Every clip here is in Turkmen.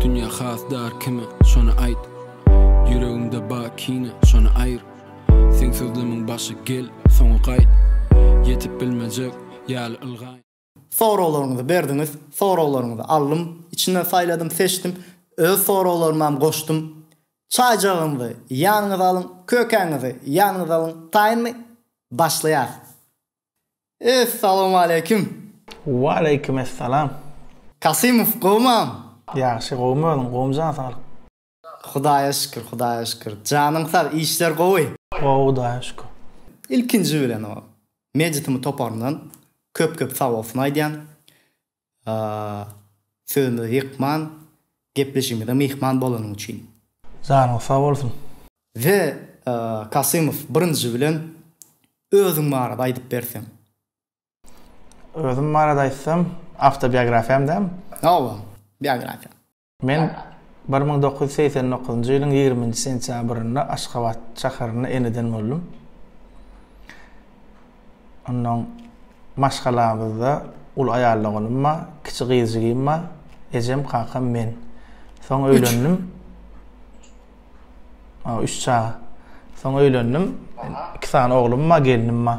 Dünýä has dar kime, şony aýt Ýüregimde ba kine, şony aýyr Seň sözlemiň başy gel, soňy gaýt Ýetip bilmejek ýaly ylgaýyn Soraglaryňyzy berdiňiz, soraglaryňyzy aldym, içinden saýladym, seçdim, öz soraglarymam goşdum. Çaýjagyňyzy ýanyňyza alyň, kökäňizi ýanyňyza alyň, taýynmy? Başlaýarys. Essalawmaleýkim! Waleýkim essalam! Kasymow, gowumam? Ýagşy, gowumy özüň? Gowumjan, saglyk. Hudaýa şükür Hudaýa şükür janyň sag işler gowy. Gowy Hudaýa şükür. Ilkinji bilen o Meditimi toparyndan köp köp sag bolsun aýdýan. Sözümizi ýykman, gepleşigimize myhman bolanyň üçin. Janyň sag bolsun. The Kasymow birinji bilen özüň barada aýdyp berseň. Özüm barada aýtsam, awtobiografiýam dämi? Hawa, biografiýa. Men bir müň dokuz ýüz segsen dokuzynjy ýylyň ýigriminji sentýabrynda Aşgabat şäherinde eneden boldum. Onnoň maşgalamyzda uly aýal doganym bar, kiçi gyzjygym bar, ejem, kakam, men. Soň öýlendim. A, üç çaga. Soň öýlendim. Iki sany oglum bar, gelnim bar.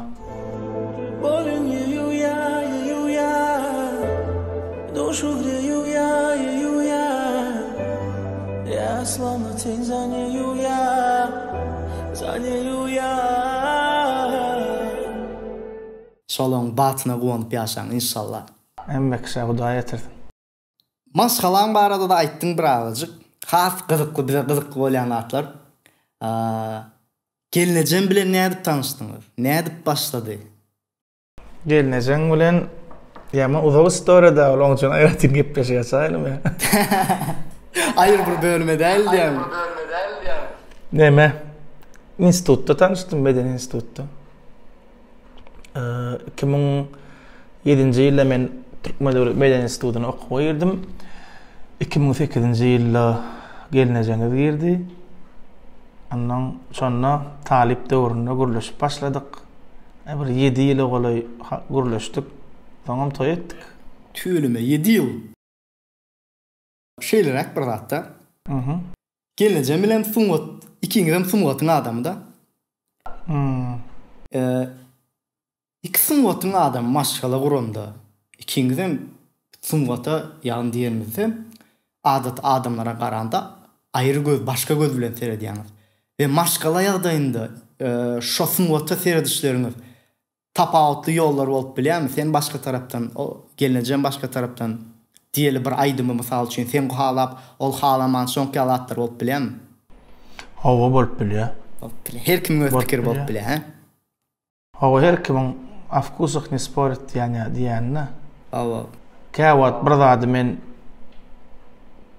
Şolaryň batyna guwanyp ýaşaň, inşallah. Hemme kişä Hudaý ýetirsin. Maşgalaň barada-da aýtdyň bir agajyk. Has gyzykly, bize gyzykly bolýan zatlar. Gelnejeň bilen nädip tanyşdyňyz? Nädip başlady? Gelnejeň bilen ýaman uzak istoriýa däl, onuň üçin aýratyn gepleşik açaýlymy ýa? Aýry bir bölüme däl diýýäňmi? Näme? Institutda tanyşdym, medeni institutda. Iki müň ýedinji ýylda men Türkmen döwlet medeniýet institutyna okuwa girdim. Iki müň sekizinji ýylda gelnejeňiz girdi. Ondan şonda talyp döwründe gürleşip başladyk. E, bir ýedi ýyla golaý gürleşdik. Soňam toý etdik. Tüweleme ýedi ýyl! Şeýleräk bir zatda. Aha. Gelnejem bilen sungat ikiňizem sungatyň adamyda. Hmm. Iki sungatyň adamy maşgala guranda ikiňizem sungata ýagny diýenimizde adaty adamlara garanda aýry göz başga göz bilen seredýäňiz. We maşgala ýagdaýynda şo sungata seredişleriňiz Tapawutly ýollar bolup bilýärmi? Sen başga tarapdan, o gelnejem başga tarapdan diýeli bir aýdymy mysal üçin sen halap, ol halaman şoňk ýaly zatlar bolup bilýärmi? Hawa bolup bilýär. Bolup bilýär. Her kimiň öz pikiri bolup bilýär, hä? Hawa her kimiň o vkusah ne sporät diýýän ýa diýýänini. Hawa. Käwagt bir zady men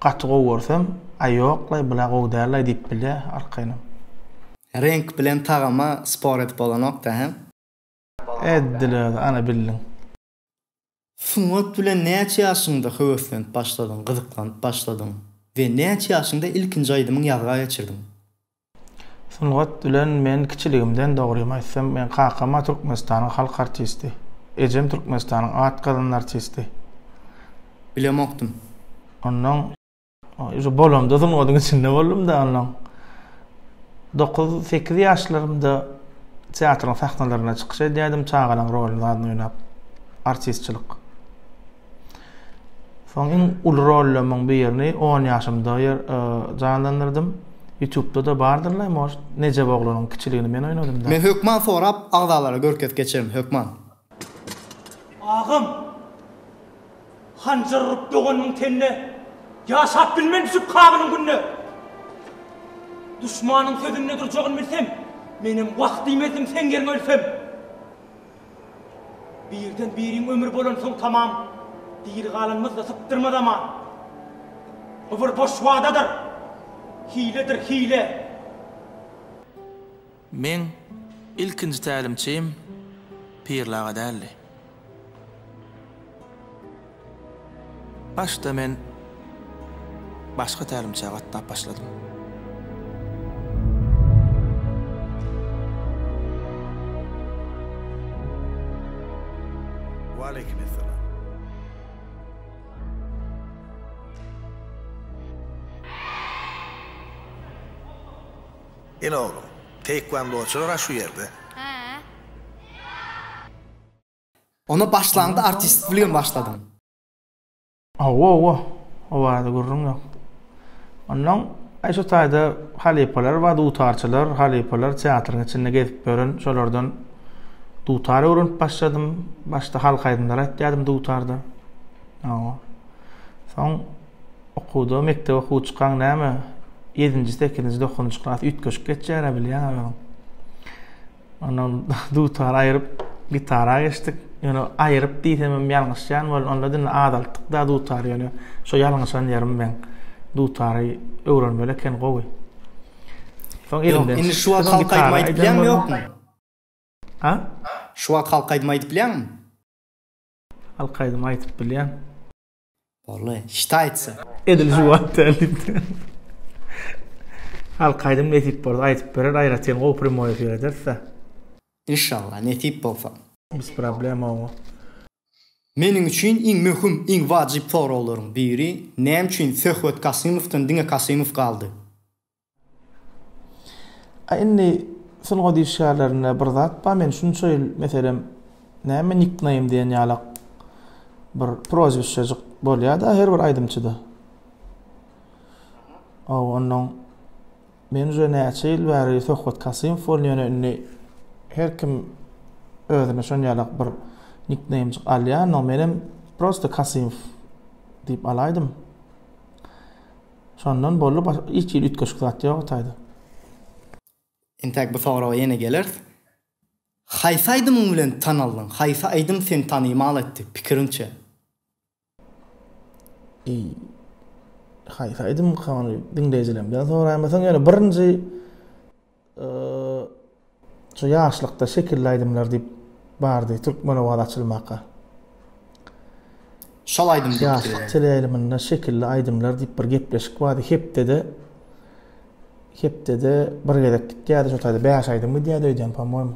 gaty gowy görsem, aý ýoklaý bula gowy dällaý diýip bilýär arkaýynam. Reňk bilen tagama spor edip bolanokda hä? Eddiler, ana bildiň. Sungat bilen näçe ýaşyňda höweslenip başladyň, gyzyklanyp başladyň we näçe ýaşyňda ilkinji aýdymyň ýazga geçirdiň? Sungat bilen men kiçiligimden, dogrymy aýtsam, meň kakam-a Türkmenistanyň halk artisti, ejem Türkmenistanyň at gazanan artisti. Bilemokdym. Ondan. Şu bolamda sungatyň içinde boldum da ondan. 9-8 ýaşlarymda teatryň sahnalarynda çykyş edýärdim, çagalaryň rolunda adyny oýnap. Artistçilik. Soň iň uly rollarymyň birini 10 ýaşymda ýer e, janlandyrdym. YouTube-da da bardyrlar, moş Nejep oglanyň kiçiligini men oýnadym da. Men hökman sorap agzalara görkez geçerim hökman. Agam! Hanjar urup doganynyň tenine Ýaşap bilmen düşüp kabynyň gününe! Duşmanyň sözünde durjagyn bilsem, Menem wah diýmezdim seň ýeriňe ölsem! Birden biriň ömri bolansoň tamam, Diri galanymyzda sypdyrmaz aman! Bu bir boş wadadyr, hiledir hile! Meň ilkinji tälimçim Pirli aga däldi. Başda men başga tälimçä gatnap başladym. Ine oglum. Teýkwandoçylar a şu ýerde. Ony başlaňda artistlik bilen başladym. Owowo owazy gürrüň ýok. Onnoň aý şu taýda halypalar bar dutarçylar halypalar teatryň içinde gezip ýören şolardan dutar öwrenip başladym başda halk aýdymlary aýtýadym dutarda owo soň Okuwda mekdebe okuw çykaň näme, ýedinji, sekizinji, dokuzynjy klas üýtgeşik geçýär-ä bilýäň özüň. Ondan dutary aýryp, gitara geçdik. Ýöne aýryp diýsem hem ýalňyşýan bol, onda diňe azaltdyk-da dutary ýöne şo ýalňyşan ýerim meň. Dutary öwrenmeli eken gowy. Soň elimden. Ýok, indi şu wagt halk aýdymy aýdyp bilýäňmi ýokmy? Ha? Şu wagt halk aýdymy aýdyp bilýäňmi? Halk aýdymy aýdyp bilýän. Bolly. Şta aýtsa. Edil şu wagt däl diýipdir. Halk aýdym nesip bolsa aýdyp berer aýratyn gowy primoý efir ederisda. Inşallah nesip bolsa. Biz problema oňa. Meniň üçin iň möhüm, iň wajyp soraglaryň biri, näme üçin Söhbet Kasymowdan diňe Kasymow galdy? A indi sungat işgärlerinde bir zat bar, men şunça ýyl meselem näme nikneým diýen ýalak bir prozwisçejik bolýar-da her bir aýdymçyda. Aw, ondan men uje näçe ýyl bäri Söhbet Kasymow boldy, ýöne indi her kim özüne şonýalak bir nikneýmjik alýar, ondan menem prosta Kasymow diýip alaýdym. Şondan boldy başga hiç hili üýtgeşik zat ýok ataýda. Entäk bu soraga ýene geleris. Haýsy aýdymyň bilen tanaldyň? Haýsy aýdym seni tanymal etdi, pikiriňçe? Eý, haýsy aýdymka ony diňleýjilerimden soraýmasaň ýöne birinji Şu ýaşlykda şekilli aýdymlar diýip bardy Türkmenowaz açylmaka. Şol aýdym diýipdi. Ýaşlyk teleýaýlymynda şekilli aýdymlar diýip bir gepleşik bardy. Hepdede hepdede bir gezek gitýärdi şo taýda bäş aýdym gidýärdi öýdýän, po-moýmy.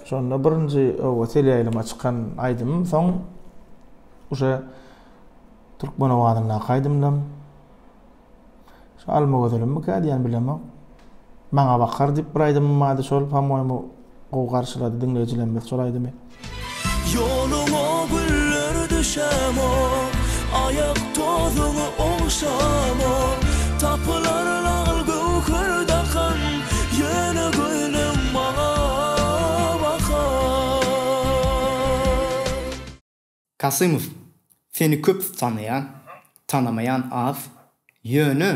Şonda birinji oba selýaýlyma çykan aýdymym soň uje türkmen owazyndaky aýdymdam şu Almagözelimmikä diýen bilemok. Maňa bakar diýip bir aýdymym bardy şol pamoýmy gowy garşylady diňleýjilerimiz şol aýdymy. Ýoluňa güller düşemo, aýak tozuňy ogşamo, tapylar lal göwher dakan, Ýöne göýnüm maňa bakar. Kasymow, seni köp tanaýan, tanamaýan az. Ýöne,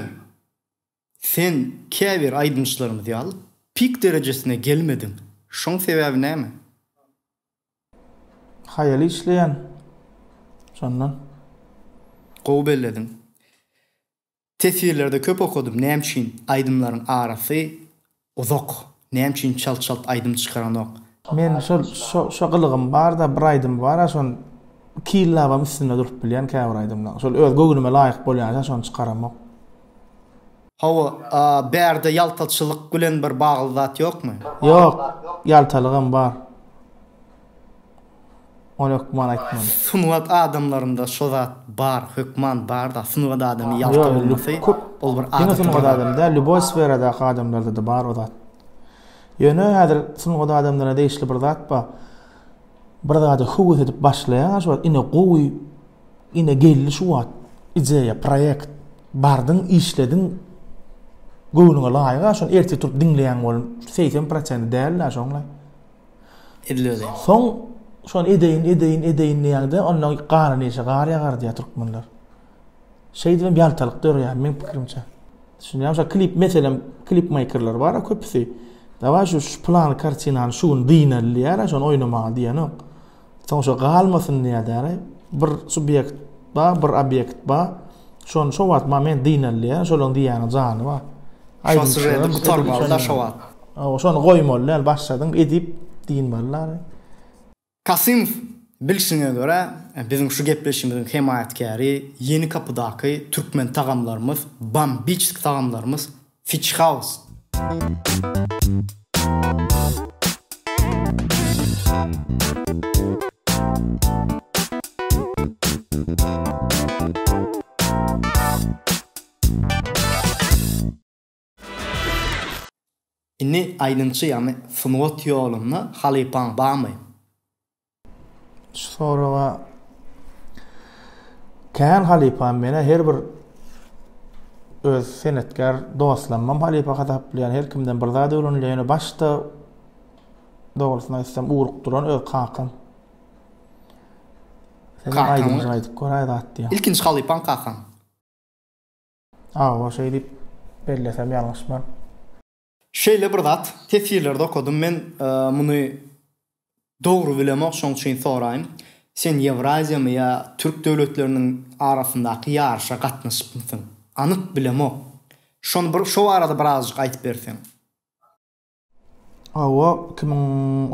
sen käbir aýdymçylarymyz ýaly pik derejesine gelmediň. Şoň sebäbi näme? Haýaly işleýän, şondan. Gowy bellediň. Teswirlerde köp okadym näme üçin aýdymlaryň arasy uzak näme üçin çalt çalt aýdym çykaranok. Men şol şo gylygym barda bir aýdym bara şon iki ýyllabam üstünde durup bilýän käbir aýdymlaň şol öz göwnüme laýyk bolýança şony çykaramok. Hawa bärde ýaltaçylyk bilen bir bagly zat ýokmy. Ýok ýaltalygam bar. On ök man aýtman. Sungat adamlarynda şo zat bar hökman barda sungat adamy ýalta bolmasy ol bir adaty bir zat. Diňe sungat adamy däl lýuboý sferadaky adamlardada bar o zat. Ýöne häzir sungat adamlaryna degişli bir zat bar. Bir zada höwes edip başlaýaňa şo ine gowy ine geldi şu wagt ideýa proýekt bardyň işlediň göwnüňe laýyga şony ertir turup diňleýäň bolun segsen prosenti däl-ä şoňlaý. Edilmeli. Soň şony edeýin, edeýin, edeýin diýýäňde, onda gar neyşe, gar ýagar diýýär türkmenler. Şeýdip hem ýaltalyk döreýär meň pikirimçe. Düşünýäňmi? Şo klip meselem, klip makerler bar-a köpüsi. Daway şu plany kartinany şu gün dynal diýýär, şony oýnamaga diýenok. Soň şu galmasyn diýýär, bir subýekt bar, bir obýekt bar. Şony şo wagt ma men dynalýar, şolaryň diýýäniň jany bar. Aýdym şeýle gutarmaly şo wagt. Aw, şony goýmaly däl, başladyň edip dynmaly. Kasymow, bilşiňe görä, biziň şu gepleşigimiziň hemaýatkäri Ýeni Kapydaky türkmen tagamlarymyz, Bambiçsk tagamlarymyz. Fitch House. Indi aýdymçy ýagny sungat ýolunda halypaň barmy? Şu soraga Kän halypam menä her bir öz senetkar dostlarymam halypa hasaplaýan her kimden bir zat öwrenilen başda dogrusyny aýtsam urup duran öz kakam Sen aýdymjy aýdyp gör aý zat diýýär. Ilkinji halypaň kakaň. Awa şeýdip bellesem ýalňyşman. Şeýle bir zat tefsirlerde okadym men muny dogry bilemok şoň üçin soraýyn sen ýewraziýamy ýa türk döwletleriniň arasyndaky ýaryşa gatnaşypmysyň anyk bilemok şony bir şo barada birazjyk aýtyp berseň. Hawa iki müň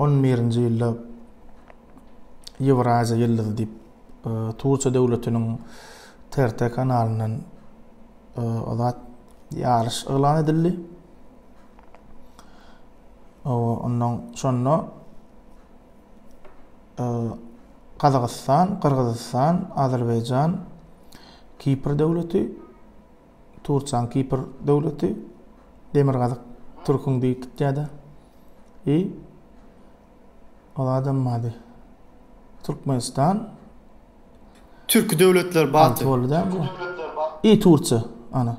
on birinji ýylda ýewraziýa ýyldyzy diýip turkiýa döwletiniň TRT kanalyndan Azat ýaryş yglan edildi. Ondan şonda Gazagystan, Gyrgyzystan, Azerbaýjan, Kipr döwleti, Tursan Kipr döwleti, Demirgazyk Türkün beýik gitýäde. I Ol adamyň ady Türkmenistan. Türki döwletler baty. Türki döwletler baty. I Tursiýa, ana.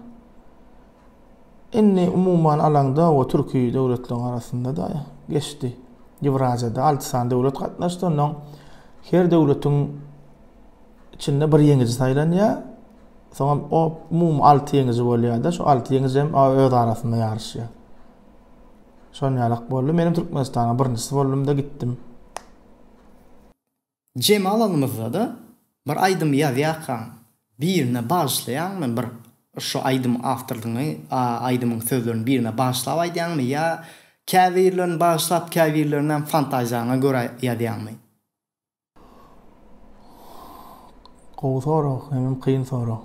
Indi umuman alaňda o türki döwletleriň arasynda-da geçdi. Ýewraziýada alty sany döwlet gatnaşdy, ondan her döwletiň içinde bir ýeňiji saýlanýar. Soňam o umumy alty ýeňiji bolýar-da, şu alty ýeňiji hem öz arasynda ýaryşýar. Şon ýalak boldy menem Türkmenistana birinjisi boldumda gitdim. Jemal alymyzada bir aýdym ýazýarkaň birine bagyşlaýaňmy bir şo aýdym awtorlygyny aýdymyň sözlerini birine bagyşlap aýdýaňmy ýa käbirlerini bagyşlap käbirlerinäm fantaziýaňa görä ýazýaňmy. Gowy sorag, hemem kyn sorag.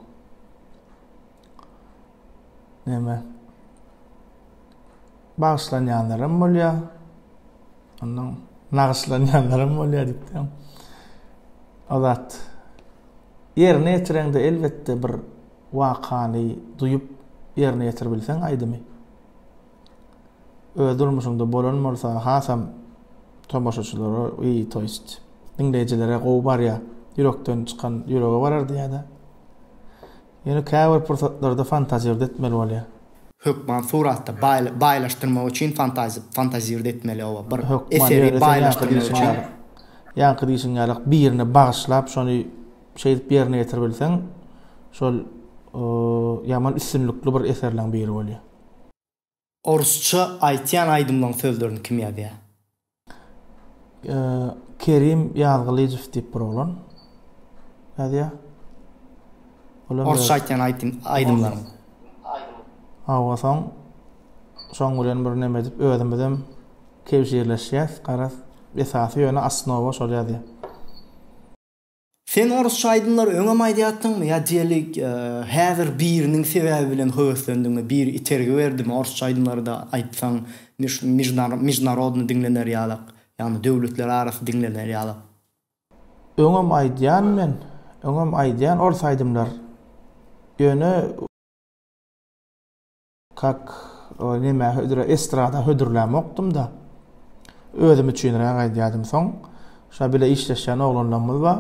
Näme? Bagyşlanýanlaram bolýar. Ondan nagyşlanýanlaram bolýar diýipdim. Azat. Ýerine ýetireňde elbetde bir wakany duýup ýerine ýetirbilseň aýdymy. Öz durmuşyňda bolan bolsa hasam tomaşaçylara i toýst diňleýjilere gowy barýa ýürekden çykan ýürege barar diýädä. Ýöne käbir pursatlarda fantazirde etmeli bolýa. Hökman suratda baýlaşdyrmak üçin fantazirde etmeli oba bir eseri baýlaşdyrmak üçin. Ýaňky diýşiň ýalyk birine bagyşlap şony şeýdip ýerine ýetirbilseň şol ýaman üstünlikli bir eserleň biri bolýa. Orsça aýtýan aýdymlaň sözlerini kim ýazýar? Kerim Ýazgylyjow diýip bir oglan ýazýar. Orsça aýtýan aýtym aýdymlaň. Hawa soň şoň bilen bir neme edip özümizem kebşirleşýäs garaz esasy ýöne asnowa şol ýazýar. Sen orusça aýdymlary öňem aýdýatdyňmy ýa diýeli häzir biriniň sebäbi bilen höweslendiňmi biri itergi berdimi orusça aýdymlarda aýtsaň mejnarodny diňlener ýalak ýagny döwletler arasy diňlener ýalak. Öňem aýdýan men öňem aýdýan orus aýdymlar ýöne. Kak, ol neme hödür, estrada hödürlämokdym-da. Özüm üçinräk aýdýardym. Soň, şa bile işleşýän oglanlarymyz bar.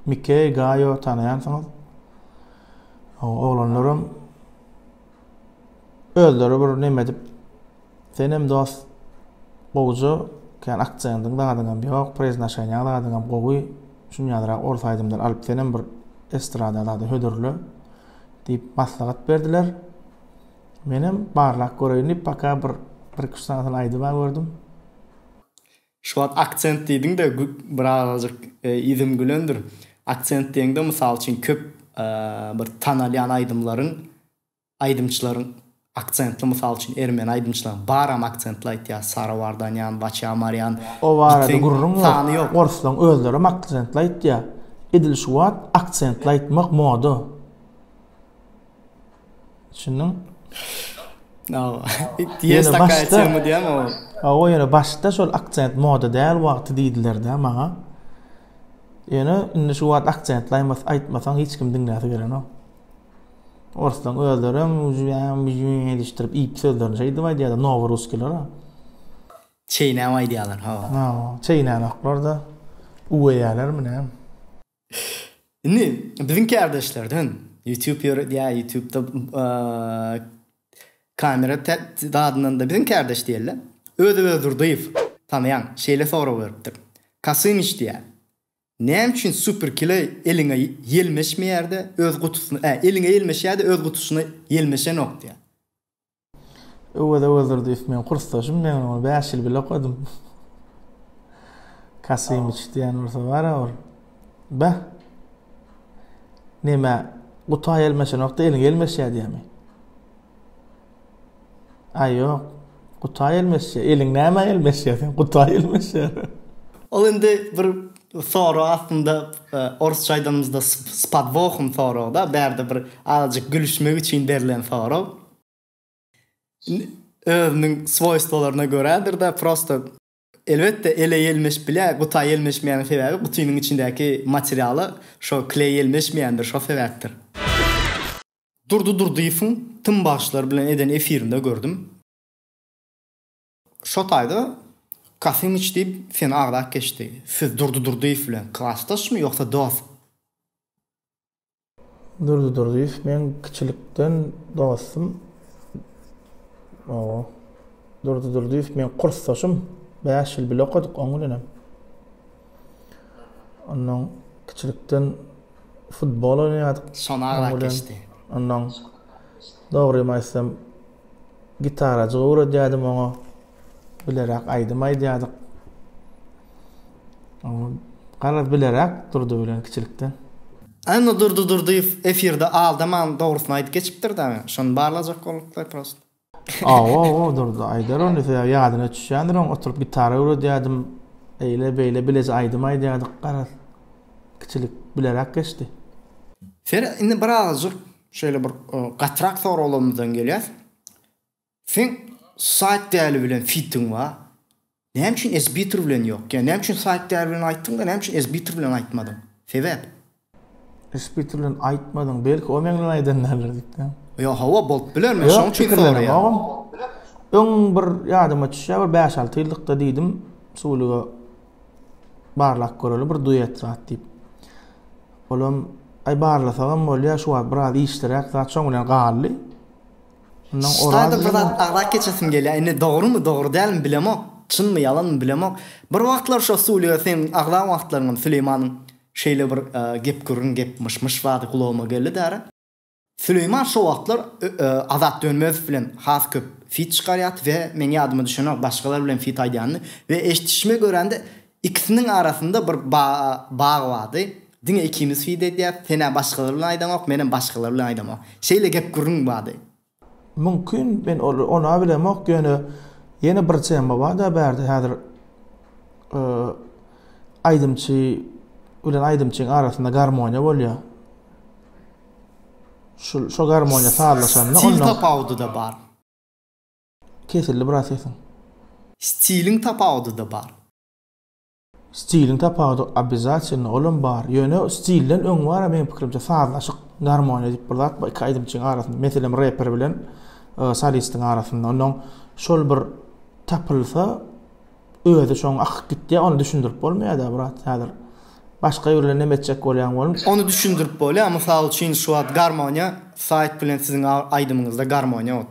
Mikey, Gaýo, tanaýansyňyz. O oglanlaram özleri bir neme edip, Senem dost gowja kän akcendiň zadyňam ýok preznaşenýaň zadyňam gowy şuny ýazyrak orus aýdymdan alyp senem bir estrada zady hödürle diýip maslahat berdiler menem barlap göreýin diýip paka bir bir iki üç sanysyny aýdyba gördüm. Şu wagt akcent diýdiňde birazajyk yzym gülendir akcent diýeňde mysal üçin köp bir tanalýan aýdymlaryň Aýdymçylaryň aksentli mysal üçin ermeni aýdymçylaryň baram aksentli aýtýar Sara Vardanýan, Waçja Marýan O barada gürrüň ýok. Orslaň özlerem aksentli aýtýar. Edil şu wagt aksentli aýtmak moda. Düşündiňmi? Ýene başda Hawa ýene başda şol aksent moda däl wagty diýdiler-dä maňa. Ýöne indi şu wagt aksentli aýtmasaň hiç kim diňläsi gelenok. Oruslan özlerem jüýäm jüýäm edişdirip iýip sözlerini şeýdip aýdýarlar nowa russkiler. Çeýnäp aýdýarlar hawa. Hawa çeýnänoklar da uweýälermi näm. Indi biziň kärdeşlerden ýutub ýöredýär ýutubda kamera dadynanda biziň kärdeş diýeli Öwez Öwezdurdyýew tanaýaň şeýle sorag beripdir Kasymyç diýýär Näme üçin super kile eliňe ýelmeşmeýärde öz gutusyna ä eliňe ýelmeşýärde öz gutusyna ýelmeşenok diýýä. Öwez Öwezdurdyýew meň kursdaşym men ony bäş ýyl bile okadym. Kasimiç diýen bolsa bara bir beh. Neme guta ýelmeşenokda eliňe ýelmeşýär diýýämi. Aý ýok. Gutaý elmeşýär. Eliň nämä elmeşýär seň? Gutaý elmeşýär. Ol indi bir sorag aslynda orsça aýdanymyzda s podwohom soragda bärde bir azajyk gülüşmek üçin berlen sorag. Özüniň swoýstwolaryna görädir-de prosta. Elbetde ele ýelmeşip bilýär, guta ýelmeşmeýäniň sebäbi gutynyň içindäki materialy şo kleý ýelmeşmeýändir, şo sebäpdir. Durdy Durdyýewiň tm bagşylar bilen eden efirinde gördüm. Şo taýda Kasymyç diýip seni agzap geçdi. Siz Durdy Durdyýew bilen klasdaşmy ýogsa dost? Durdy Durdyýew meň kiçilikden dostum. Owo. Durdy Durdyýew meň kursdaşym. Bäş ýyl bile okadyk oň bilenem. Ondan kiçilikden futbol oýnaýardyk. Şona agrak geçdi. Ondan dogrymy aýtsam, gitarajyk öwredýärdim oňa. Bileräk aýdym aýdýardyk. Garaz bileräk Durdy bilen kiçilikden. Indi Durdy Durdyýew efirde aldaman dogrusyny aýdyp geçipdir dagy. Şony barlajak bolduklar prosto. Aw-aw-aw Durdy aýdar ony sebäbi ýadyna düşýändir oň oturyp gitara öwredýädim. Eýle beýle bileje aýdym aýdýardyk garaz kiçilik bileräk geçdi. Ferhat indi birazajyk şeýle bir gatyrak soraglarymyzdan gelýäs. Seň Saýt Däli bilen fitiň bar. Näme üçin Esbiter bilen ýok? Ýa näme üçin Saýt Däli bilen aýtdyň-da, näme üçin Esbiter bilen aýtmadyň? Sebäp? Esbiter bilen aýtmadyň, belki o meň bilen aýdan däldir diýipdim. Ýa hawa, bolup biler, men şoň üçin soraýan. Ýok, pikirlenenogam. Öň bir ýadyma düşýär, bir bäş-alty ýyllykda diýdim, Suwulyga barlap göreli bir duet zat diýip. Olam, Aý, barlasagam bolýar, şu wagt biraz işliräk zat, şoň bilen galdy. Staýda bir zat agzap geçesim gelýär. Indi dogrumy, dogry dälmi bilemok. Çynmy, ýalanmy bilemok. Bir wagtlar şo studiýada seň agzan wagtlaryňam Süleýmanyň şeýle bir gep-gürrüň, gep myş-myş bardy, gulagyma geldi-dä. Süleýman şo wagtlar Azat Dönmezow bilen has köp fit çykarýardy we meň ýadyma düşenok, başgalar bilen fit aýdýandy we eşdişime görä-de, Ikisiniň arasynda bir bag bardy. Diňe ikimiz fide edýäris. Sen-ä başgalar bilen aýdaňok, menem başgalar bilen aýdaňok. Şeýle gep-gürrüň bardy. Mümkin, men ol-a bilemok, ýöne ýene bir tema bar-da bärde häzir aýdymçy bilen aýdymçyň arasynda garmoniýa bolýar. Şul, şo garmoniýa sazlaşanda onda. Stil tapawudy-da bar. Kesildi biraz sesiň. Stiliň tapawudyda bar. Stiliň tapawudy obezatilno olam bar ýöne stilden öň bara meň pikirimçe sazlaşyk garmoniýa diýip bir zat bar iki aýdymçyň arasynda meselem reper bilen solistiň arasynda onnoň şol bir tapylsa özi şoň akyp gitýä ony düşündirip bolmaýada brat häzir başga biri bilen näme etjek bolýaň bolmyş. Ony düşündirip bolýa mysal üçin şu wagt garmoniýa saýt bilen siziň aýdymyňyzda garmoniýa ot.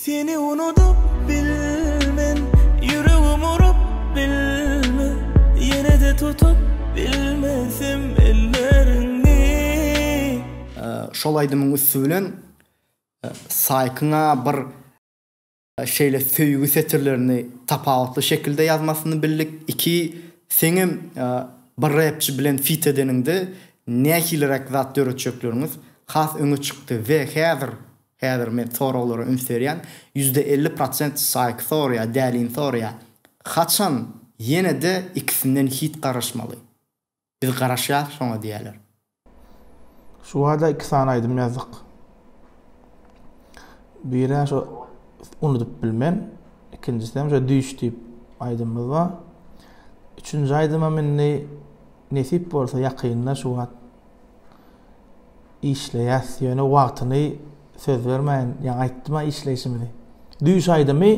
Seni unudyp bilmen Ýüregim urup bilme Ýene-de tutup bilmesem elleriňi. Şol aýdymyň üsti bilen Saýkyň-a bir şeýle söýgi setirlerini tapawutly şekilde ýazmasyny bildik. Iki, seňem bir repçi bilen fit edeniňde nähiliräk zat döretjeklerňiz has öňe çykdy we häzir Häzir men soraglara üns berýän, ýüzde elli prosent Saýk sorýa, Dälin sorýa, haçan ýenede ikisinden hit garaşmaly? Biz garaşýas şoňa diýýäler. Şu bada iki sany aýdym ýazdyk. Birä şo Unudyp bilmen, ikinjisem şo Düýş diýip aýdymymyz bar. Üçünji aýdymym indi nesip bolsa ýakynda şu wagt Işleýäs ýöne wagtyny söz bermäýin ýa aýtdyma işleýşimizi. Düýş aýdymy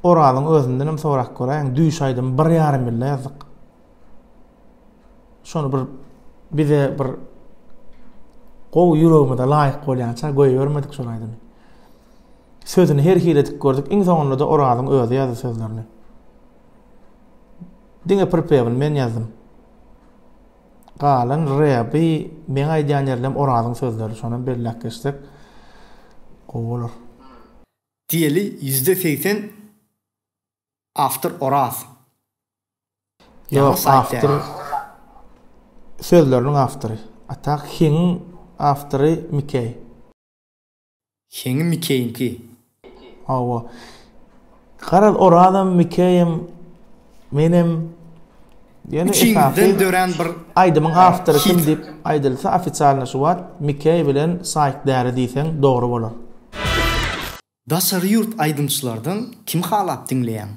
Orazyň özündenem sorap göräýiň düýş aýdymy bir ýarym ýylda ýazdyk. Şony bir bize bir gowy ýüregimize laýyk bolýança goýbermedik şol aýdymy. Sözüni her hili edip gördük. Iň soňunda da Orazyň özi ýazdy sözlerini. Diňe pripewini men ýazdym. Galan Rebi meň aýdýan ýerlem Orazyň sözleri şonam belläp geçsek gowy bolar. Diýeli ýüzde segsen awtor Oraz. Ýok awtor sözleriniň awtory. A tak Hiňiň awtory Mikeý. Heňi Mikeýiňki. Hawa. Garaz, Orazam, Mikeýem, menem, ýöne esasy aýdymyň awtory kim diýip aýdylsa, ofisialny şu wagt Mikeý bilen Saýk däri diýseň dogry bolar. Daşary ýurt aýdymçylardan kimi halap diňleýäň?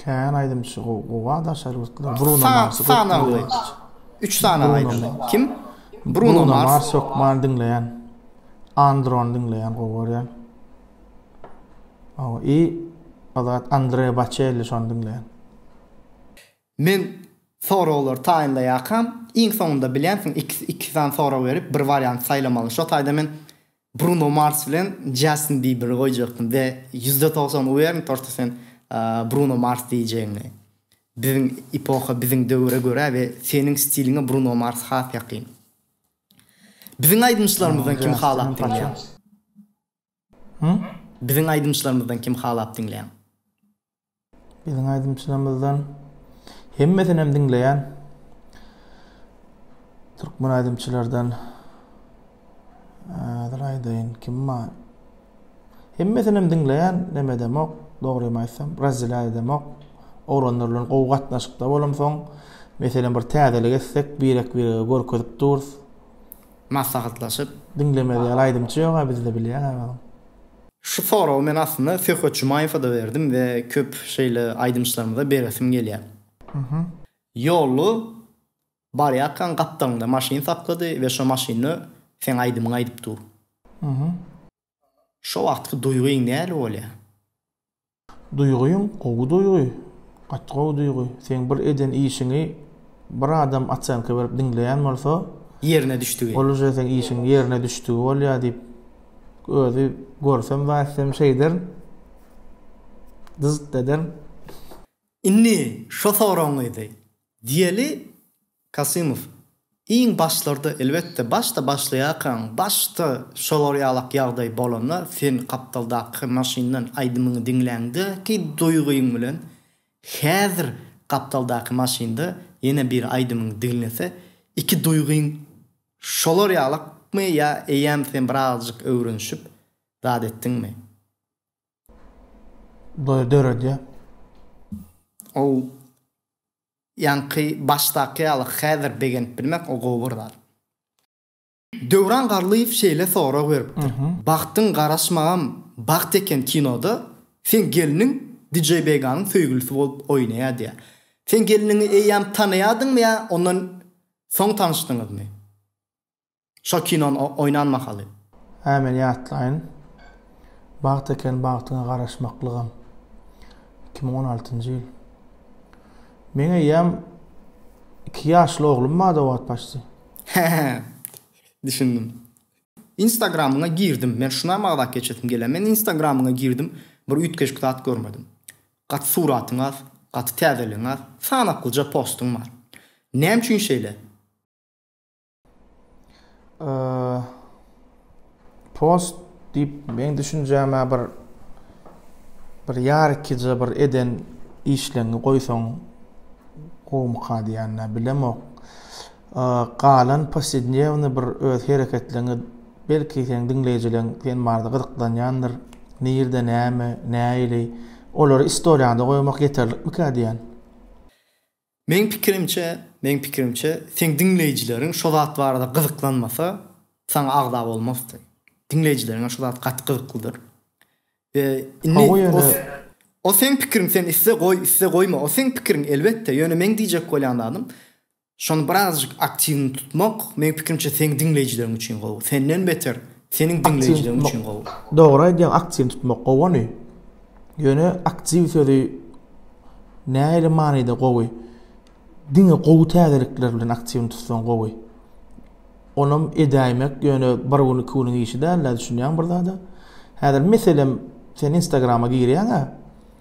Kän aýdymçy gowy gowy a daşary ýurtlar Bruno Mars sanagly 3 sany aýdymçy kim Bruno Mars hökman diňleýän Andron diňleýän gowy görýän Awa i Azat Andre Baçelli şony diňleýän Men soraglary taýynlaýakam iň soňunda bilýänsiň iki sany sorag berip bir wariant saýlamaly şo taýda men Bruno Mars bilen Jastin Biberi goýjakdym we ýüzde togsan uwern torta sen Bruno Mars diýjegiňi. Biziň epoha biziň döwüre görä we seniň stiliňe Bruno Mars has ýakyn. Biziň aýdymçylarymyzdan kim halap diňleýäň? Biziň aýdymçylarymyzdan kim halap diňleýäň? Biziň aýdymçylarymyzdan hemmesinem diňleýän. Türkmen aýdymçylardan Hazır aýdaýyn, kim bar? Hemmesinem diňleýän, neme demok, dogrymy aýtsam, razzila demok. Oglanlar bilen gowy gatnaşykda bolamsoň, meselem bir täzelik etsek, birek birege görkezip durus. maslahatlaşyp. Diňlemez ýaly aýdymçy ýoga bizde bilýäňä onuň. Şu soragy men aslynda Söhbet Jumaýewa-da berdim we köp şeýle aýdymçylarymyza beresim gelýär. Ýoly barýarkaň gapdalynda maşyn saklady we şo maşynda seň aýdymyňy aýdyp dur. Şo wagtky duýgyň näli bolýar? Duýgym gowy duýgy. Gaty gowy duýgy. Seň bir eden işiňi bir adam oçenka berip diňleýän bolsa, Ýerine düşdügi. ol uje seň işiň ýerine düşdügi bolýar diýip, özi görsem zaýtsem şeý derin, dyzt ederin. Indi şo soragyňyzy diýeli. Kasymow, Iň başlarda, elbetde, başda başlaýarkaň, başda şolar ýalak ýagdaý bolanda, sen gapdaldaky maşyndan aýdymyňy diňläňdäki duýgyň bilen häzir gapdaldaky maşynda ýene bir aýdymyň diňlese, iki duýgyň şolar ýalakmy ýa eýýäm sen birazajyk öwrenişip zat etdiňmi? Duýgy döredýär. Ol Ýaňky başdaky ýaly häzir begenip bilmek o gowy bir zat. Döwran Garlyýew şeýle sorag beripdir, Bagtyň garaşmagam bagt eken kinoda seň gelniň Dijeýbeganyň söýgülisi bolup oýnaýar diýýär. Sen gelniňi eýýäm tanaýardyňmy ýa ondan soň tanyşdyňyzmy? Şol kinon oýnan mahaly. Ämeliýatlaýyn bagt eken bagtyňa garaşmaklygam. Iki müň on altynjy ýyl. Meň eýýäm iki ýaşly oglum bardy o wagt başsy. He-he. Düşündim. Instagramyňa girdim. Men şuna magdak geçesim gelýär. Men Instagramyňa girdim. Bir üýtgeşik zat görmedim. Gaty suratyň az, gaty täzeligiň az. Sanaklyja postuň bar. Näme üçin şeýle? post diýip meň düşünjäme bir bir ýarkija bir eden işleňi goýsaň gowumyka diýende bilemok. Galan posednewny bir öz hereketleňi belki sen diňleýjileň sen barada gyzyklanýandyr. Nirde näme, näili? Olary istoriýada goýmak ýeterlikmikä diýen. Meň pikirimçe, meň pikirimçe, seň diňleýjileriň şo zat barada gyzyklanmasa, saňa agza bolmasdy. Diňleýjileriňe şo zat gaty gyzyklydyr. We indi Hawa ýöne O seň pikiriň, sen isse goý, isse goýma, o seň pikiriň elbetde, ýöne meň diýjek bolýan zadym, şony birazajyk aktiwny tutmak, meň pikirimçe seň diňleýjileriň üçin gowy, senden beter, Seniň diňleýjileriň üçin gowy. Dogry aýdýaň aktiw tutmak gowony. Ýöne aktiw sözi nähili manyda gowy? Diňe gowy täzelikler bilen aktiwini tutsaň gowy. Onam edäýmek ýöne bir gün iki günüň işi dälda düşünýäň bir zada. Häzir meselem sen instagrama girýäňä.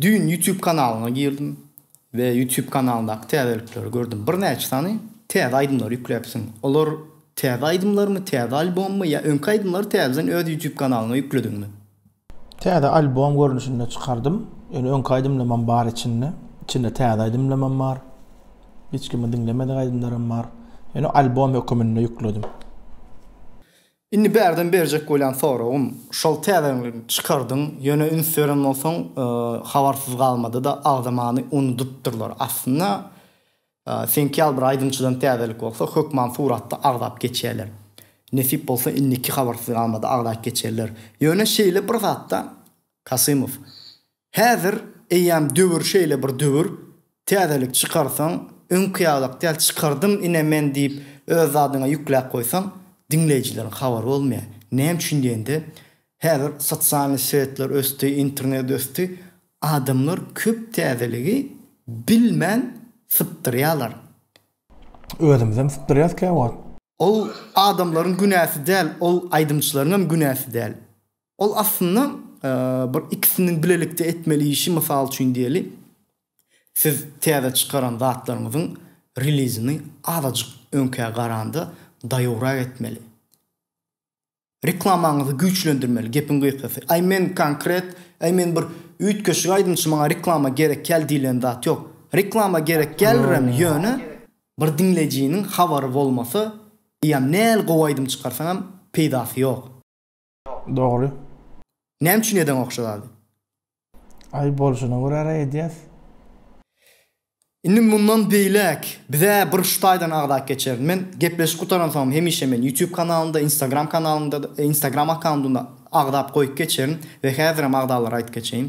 Düýn YouTube kanalyna girdim we YouTube kanalyndaky täzelikleri gördüm. Birnäçe sany täze aýdymlary ýükläpsiň. Olar täze aýdymlarmy, täze albommy ýa öňki aýdymlary täzeden öz YouTube kanalyňa ýüklediňmi? Täze albom görnüşinde çykardym. Ýöne öňki aýdymlamam bar içinde. Içinde täze aýdymlamam bar. Hiç kimiň diňlemedik aýdymlaram bar. Ýöne albom höküminde ýükledim. Indi bärden berjek bolýan soragym, şol täzeňligi çykardyň, ýöne üns beren bolsaň, habarsyz galmady-da, agzamany unudypdyrlar. Aslynda, seňki ýaly bir aýdymçydan täzelik bolsa, hökman suratda agzap geçerler. Nesip bolsa, indiki habarsyz galmady agzap geçerler. Ýöne şeýle bir zatda, Kasymow, Häzir eýýäm döwür şeýle bir döwür, täzelik çykarsaň, öňki ýalak däl, çykardym ine men diýip öz zadyňa ýükläp goýsaň, diňleýjileriň habary bolmaýar. Näme üçin diýende, häzir sosialnyý setler ösdi, internet ösdi, adamlar köp täzeligi bilmän sypdyrýarlar. Özümizem sypdyrýarys käwagt. Ol adamlaryň günäsi däl, ol aýdymçylaryňam günäsi däl. Ol aslynda bir ikisiniň bilelikde etmeli işi, mysal üçin diýeli, siz täze çykaran zatlaryňyzyň relizini azajyk öňkä garanda daýowrak etmeli. Reklamaňyzy güýçlendirmeli, gepiň gysgasy. Aý men konkret, aý men bir üýtgeşik aýdymçy maňa reklama gerekýäl diýlen zat ýok. Reklama gerekýälirem ýöne bir diňleýjiniň habary bolmasa, eýýäm näl gowy aýdym çykarsaňam peýdasy ýok. Dogry. Näme üçin edeň okşa zady? Aý bolşuna görä-ra edýäs. Indi mundan beýläk biz-ä bir şu taýdan agzap geçerin. Men gepleşik gutaran soňam hemişe men YouTube kanalynda, Instagram kanalynda, Instagram akkauntynda agzap goýup geçerin we häzirem agzalara aýdyp geçeýin.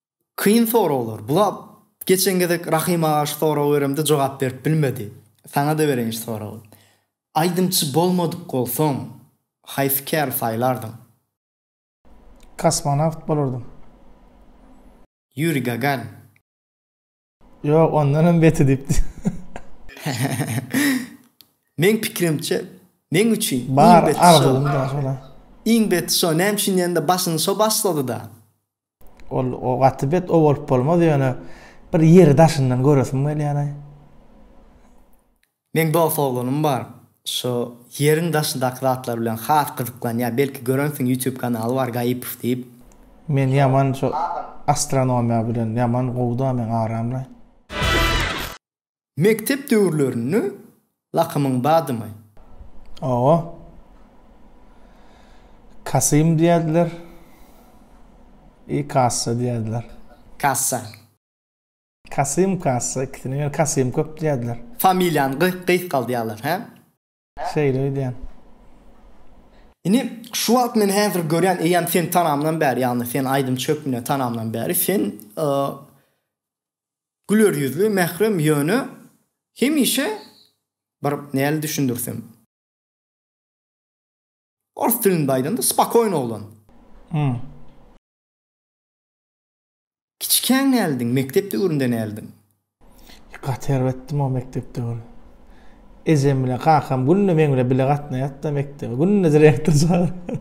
Kyn soraglar. Bula geçen gezek Rahym aga şu soragy beremde jogap berip bilmedi. Saňa-da bereýin şu soragy. Aýdymçy bolmadyk bolsaň, haýsy käri saýlardyň? Kosmonawt bolardym. Ýuri Gagarin. Ýok, ondan hem beti diýipdi. Men pikirimçe, men üçin bar arzuwym da şola. Iň beti şo, näme üçin diýende başyny şo başlady-da. Ol o gaty bet o bolup bolmaz ýöne bir ýeri daşyndan göresim gelýär. Meň dost oglanym bar. Şu ýeriň daşyndaky zatlar bilen has gyzyklanýar. Belki görensiň YouTube kanaly bar Gaýypow diýip. Men ýaman şu astronomiýa bilen ýaman gowuda meň aramda. Mekdep döwürlerinde lakymyň bardymy? Owo. Kasym diýerdiler. I kassa diýerdiler. Kassa. Kasym kassa ikisine ýöne kasym köp diýerdiler. Familiýany gysgaldýarlar hä? Şeýle öýdýän. Indi şu wagt men häzir görýän eýýäm sen tanamdan bäri ýagny sen aýdymçy hökmünde tanamdan bäri sen güler ýüzli mährem ýöne hemişe bir näl düşündirsem ors dilinde aýdanda spokoýny oglan. Kiçikäň näldin, mekdep döwründe näldin? Gaty erbetdim o mekdep döwri. Ejem bilen kakam günde meň bilen bile gatnaýardy-da mekdebe. Günde direktor çagyrýardy.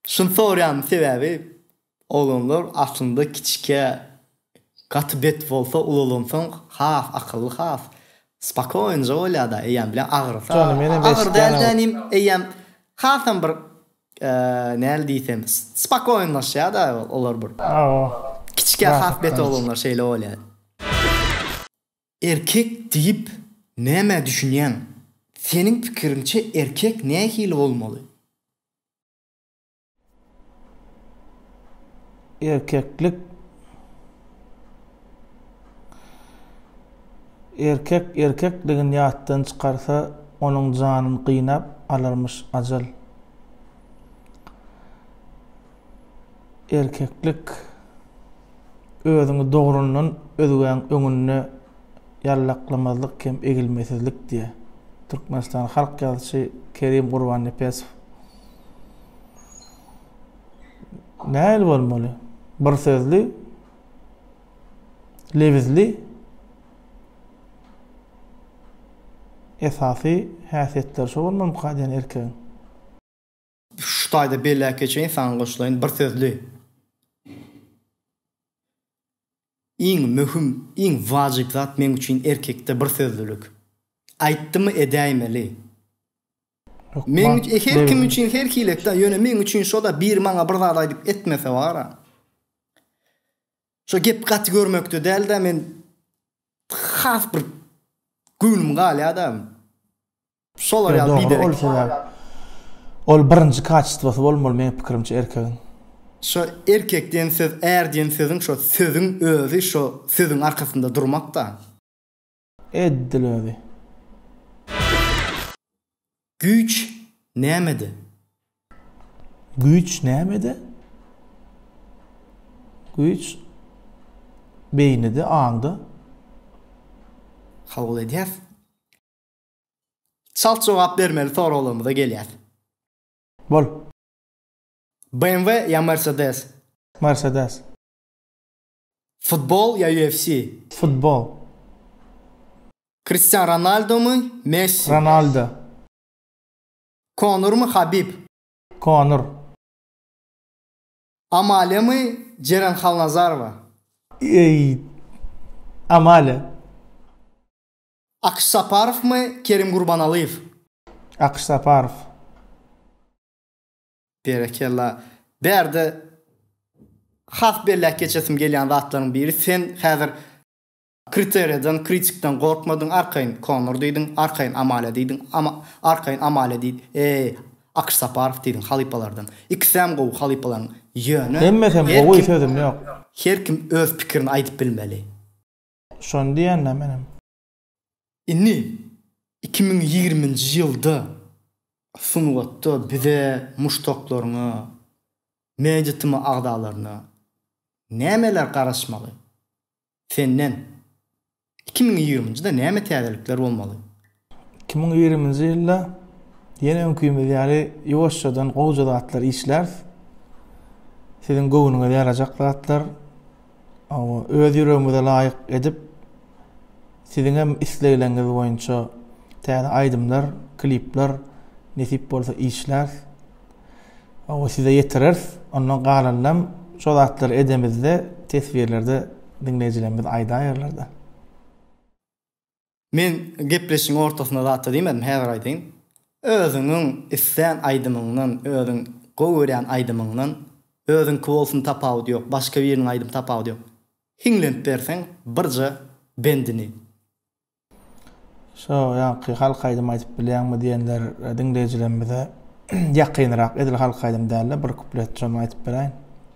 Şuny sorýanymyň sebäbi, oglanlar aslynda kiçikä gaty bet bolsa, ulalansoň has akylly, has spakoýnja bolýar-da, eýýäm bile agyrsa, agyr däl-de inim, eýýäm hasam bir Näl diýsem, spakoýnlaşýa-da olar bir. Kiçikä has bet oglanlar şeýle bolýar. Erkek diýip nämä düşünýäň? Seniň pikiriňçe erkek nähili bolmaly? Erkeklik Erkek erkekligini ýatdan çykarsa, onuň janyny gynap alarmyş ajal. Erkeklik Özüňi dogrundan özgäň öňünde ýallaklamazlyk hem egilmesizlik diýýär. Türkmenistan halk ýazyjy Kerim Gurbannepesow. Nähili bolmaly? Bir sözli, lebizli esasy häsiýetleri şo bolmalymyka diýen erkegiň? Şu taýda belläp geçeýin, saňa goşulaýyn, bir sözli. Iň möhüm, iň wajyp zat meň üçin erkekde birsözlülik. Aýtdymy edäýmeli. Meň üçin, her kim üçin her hilek-dä, ýöne meň üçin şo-da biri maňa bir zat aýdyp etmese bar-a. Şo gep gaty görmekde däl-de men has bir göwnüm galýa-da. Şolar ýaly biderek. Ýo dogry ol sebäp ol birinji kaçestwosy bolmaly meň pikirimçe erkegiň. Şo erkek diýen söz är diýen sözüň şo sözüň özi şo sözüň arkasynda durmak da. Eddil özi. Güýç nämede? Güýç nämede? Güýç beýnide, aňda. Kabul edýäs. Çalt jogap bermeli soraglarymyza gelýäs. Bol. BMW ýa Mercedes? Mercedes. Futbol ýa UFC? Futbol. Kristian Ronaldomy, Messi? Ronaldo. Konormy, Habib? Konor. Amalemi, Jeren Halnazarova? Eý, Amalia. Akyş Saparowmy, Kerim Gurbanalyýew? Akyş Saparow. Berekella. Bärde has belläp geçesim gelýän zatlaryň biri, sen häzir kriteriýadan, kritikden gorkmadyň, arkaýyn Konor diýdiň, arkaýyn Amalia diýdiň, arkaýyn Amalia diýdiň, eý, Akyş Saparow diýdiň halypalardan. Ikisem gowy halypalaryň, ýöne, Hemmesem gowy, sözüm ýok. Her kim öz pikirini aýdyp bilmeli. Şony diýendim menem. Indi iki müň ýigriminji ýylda sungatda bize muşdaklaryňa, mediatma agzalaryna nämeler garaşmaly? Senden iki müň ýigriminjide näme täzelikler bolmaly? Iki müň ýigriminji ýylda ýene öňkümiz ýaly ýuwaşjadan gowja zatlar işläris. Siziň göwnüňize ýarajak zatlar öz ýüregimize laýyk edip, siziň hem islegleriňiz boýunça täze aýdymlar, klipler nesip bolsa işläris. Oňa size ýetireris. Ondan galanynam şo zatlary edemizde teswirlerde diňleýjilerimiz aýdaýarlar-da. Men gepleşigiň ortasynda zat-da diýmedim, häzir aýdaýyn. Özüňiň islän aýdymyňdan, özüň gowy görýän aýdymyňdan, özüňki bolsun tapawudy ýok, başga biriniň aýdym tapawudy ýok. Hiňlenip berseň birje bendini. Şo ýaňky halk aýdym aýdyp bilýäňmi diýenler diňleýjilerimize ýakynrak edil halk aýdym dälde bir kuplet şony aýdyp beräýin.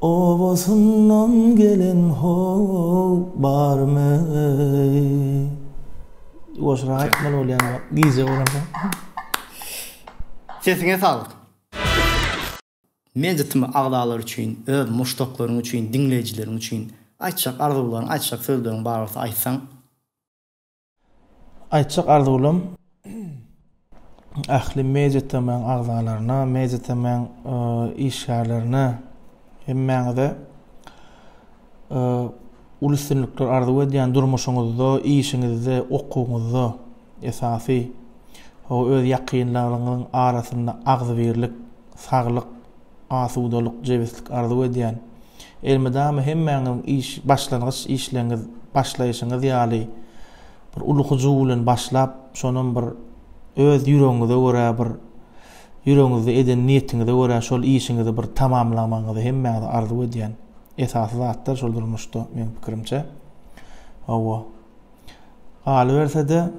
Obasyndan gelen how barmy Goşgy aýtmaly bolýan bar gije bolanda. Sesiňe saglyk. Mejit tm agzalary üçin, öz muşdaklaryň üçin, diňleýjileriň üçin aýtjak arzuwlaryň, aýtjak sözleriň bar bolsa aýtsaň. Aýtjak arzuwlym ähli media TM-niň agzalaryna, media TM-niň e, işgärlerine hemmäňize e, uly üstünlikler arzuw edýän durmuşyňyzda, işiňizde, okuwyňyzda esasy o öz ýakynlaryňyň arasynda agzybirlik, saglyk, Asudalyk, jebislik arzuw edýän. Elmydama hemmäňiziň iş, başlangyç işleňiz, başlaýşyňyz ýaly bir uly hyjuw bilen başlap, şonam bir öz ýüregiňize görä bir ýüregiňizde eden niýetiňize görä şol işiňizi bir tamamlamagyňyzy hemmäňize arzuw edýän. Esasy zatlar şol durmuşda meň pikirimçe. Hawa. Galyberse-de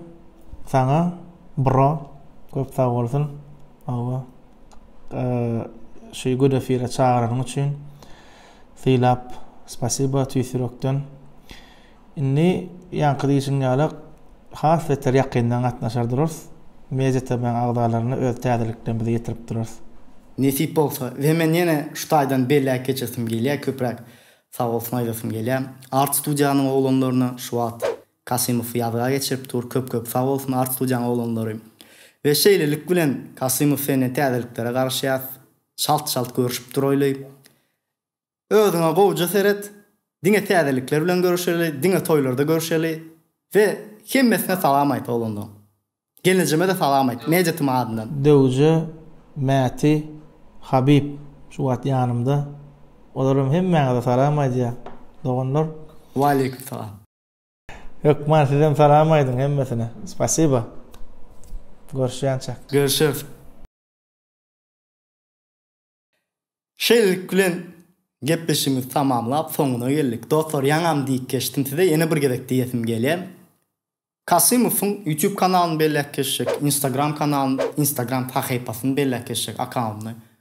saňa bro köp sagbolsun. Hawa. şu gün efire çagyranyň üçin sylap spasiba tüýs ýürekden indi ýaňky diýişiň ýaly has beter ýakyndan gatnaşar durarys media tm agzalaryny öz täzelikden bizi ýetirip durarys nesip bolsa we men ýene şu taýdan belläp geçesim gelýär köpräk sag bolsun aýdasym gelýär art studiýanyň oglanlaryna şu wagt Kasymow ýazga geçirip dur köp köp sag bolsun arzuwjaň oglanlary we şeýlelik bilen Kasymow senden täzeliklere garaşýas çalt çalt görüşip duraýly özüňe gowja seret diňe täzelikler bilen görüşeli diňe toýlarda görüşeli we hemmesine salam aýt oglanlaň gelnejemede salam aýt Mejetim adyndan. Döwje Mäti Habib şu wagt ýanymda olaram hemmäňize salam aýdýar doganlar. Waleýkim salam. Hökman sizem salam aýdyň hemmesine. Spasiba. Görüşýänçäk. Görüşeris. Şeýlelik bilen gepleşigimizi tamamlap soňuna geldik. Dostlar ýaňam diýip geçdim size ýene bir gezek diýesim gelýär. Kasymowyň YouTube kanalyny belläp geçjek, Instagram kanalyny, Instagram sahypasyny belläp geçjek akkauntyny.